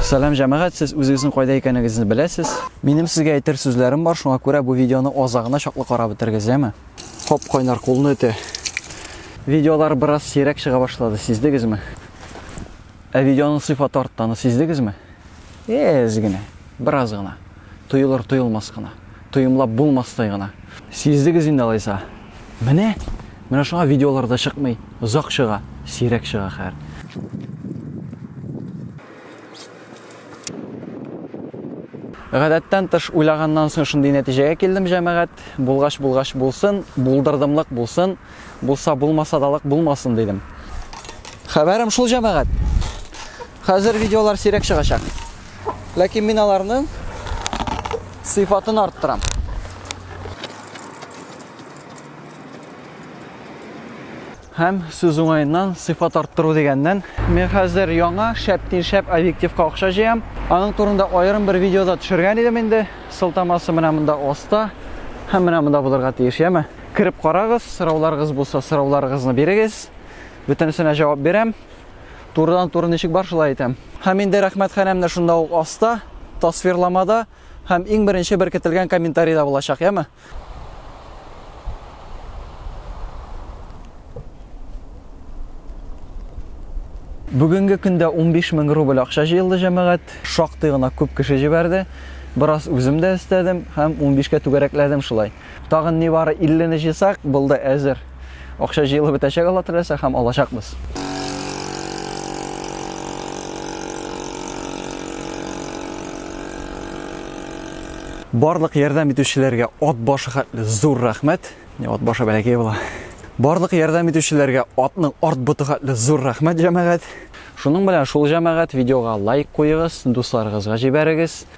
Сәлам җәмәгать, сез үзегезнең кайда икәнегезне беләсез. Минем сезгә әйтер сүзләрем бар, шуңа күрә бу видеоны азагына чаклы карап бетерегез, яме? Хоп, кайнар кулны үтә. Видеолар бераз сирәк чыга башлады, сиздегезме? Ә видеоның сыйфаты артты, аны сиздегезме? Эз генә, бераз гына. Тоелыр-тоелмас кына. Тоемлап булмастай гына. Сиздегез инде алайса. Менә! Менә шуңа видеолар да чыкмый. Озак чыга. Сирәк чыга хәер. Гадәттән тыш уйлаганнан соң шундый нәтиҗәгә килдем, җәмәгать. Булгач булгач булсын, булдырдымлык булсын, булса булмасадалык булмасын дидем. Хәбәрем шул, җәмәгать. Хәзер видеолар сирәк чыгачак. Ләкин мин аларның сыйфатын арттырам. Һәм сүз уңаеннан сыйфат арттыру дигәннән, мин хәзер яңа шәптин шәп объективка акча җыям. Аның турында аерым бер видеода төшергән идем инде. Сылтамасы менә монда оста һәм менә монда булырга тиеш, яме. Кереп карагыз, сорауларыгыз булса, сорауларыгызны бирегез. Бөтенесенә җавап бирәм. Турыдан-туры ничек бар, шулай әйтәм. Һәм инде рәхмәтханәм дә шунда ук аста, тасвирламада һәм иң беренче беркетелгән комментарида булачак, яме? Бүгенге көндә 15 мең рубль акча җыелды җәмәгать. Шактый гына күп кеше җибәрде. Бераз үзем дә өстәдем һәм 15 кә түгәрәкләдем шулай. Тагын нибары 50 не җыйсак, булды, әзер. Акча җыелып бетәчәк Алла теләсә һәм алачакбыз. Барлык ярдәм итүчеләргә ат башы хәтле зур рәхмәт. Не ат башы бәләкәй була. Барлык ярдәм итүчеләргә атның арт боты хәтле зур рәхмәт, җәмәгать. Шуның белән шул җәмәгать видеога лайк куегыз, дусларыгызга җибәрегез.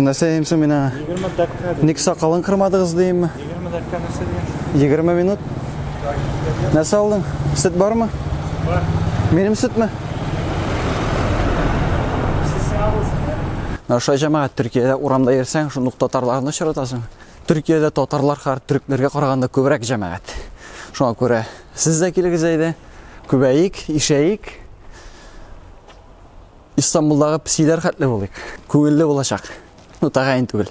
Нәрсә дим соң мин аңа? 20 дәккә. Ник сакалын кырмадыгыз димме? 20 дәккә нәрсә дигән? 20 минут. Нәрсә алдың? Сөт бармы? Бар. Минем сөтме? Наша җәмәгать Төркиядә урамда йөрсәң, шундук татарларны очратасың. Төркиядә татарлар хәр төрекләргә караганда күбрәк җәмәгать. Шуңа күрә сез дә килегез әйдә. Күбәек, ишәек. Истанбулдагы псиләр хәтле булыйк. Күңелле булачак. Ну, тәгаен түгел.